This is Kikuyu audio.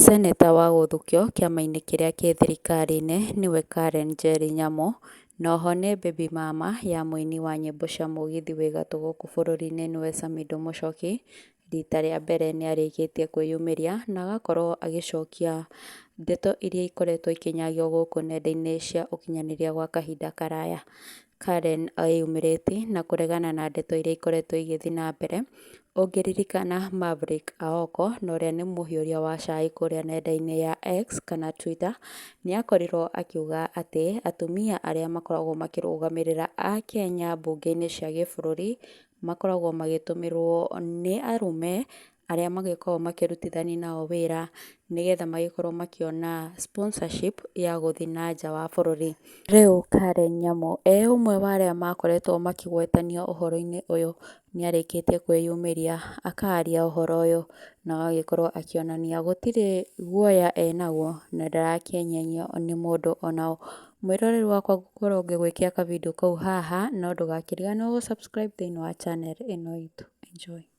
Seneta wa gũthukio kĩama-inĩ kĩrĩa kĩ thirikari-inĩ nĩwe Karen Njeri Nyamũ, na oho nĩ baby mama ya mũini wa nyĩmbo cia mũgithi wĩ gatũ gũkũ bũrũri-inĩ nĩwe Samido Mũchoki, rita rĩa mbere nĩ arĩkĩtie kwĩyumĩria na agakorwo agĩcokia ndeto iria ikoretwo ikĩnyagio gũkũ nenda-inĩ cia ũkinyanĩria gwa kahinda karaya. Karen eyumĩrĩtie na kũregana na ndeto iria ikoretwo igĩthiĩ na mbere. Ũngĩririkana Maverick Aoko na ũrĩa nĩ mũhiũria wa cai kũrĩa nenda-inĩ ya X kana Twitter, nĩ akorirwo akiuga atĩ atumia arĩa makoragwo makĩrũgamĩrĩra Akenya mbunge-inĩ cia gĩbũrũri, makoragwo magĩtũmĩrwo nĩ arũme arĩa magĩkoragwo makĩrutithania nao wĩra nĩgetha magĩkorwo makĩona sponsorship ya gũthiĩ na nja wa bũrũri. Rĩu Karen Nyamu e ũmwe wa arĩa makoretwo makĩgwetanio ũhoro-inĩ ũyũ nĩ arĩkĩtie kwĩyumĩria akaria ũhoro ũyũ na agagĩkorwo akĩonania gũtirĩ guoya enaguo na ndarakĩenyenyio nĩ mũndũ ona ũ. Mwĩroreri wakwa ngũkorwo ngĩgwĩkĩra ka video kau haha no ndũgakĩriganĩrwo gũ subscribe thĩinĩ wa channel ĩno itũ. Enjoy.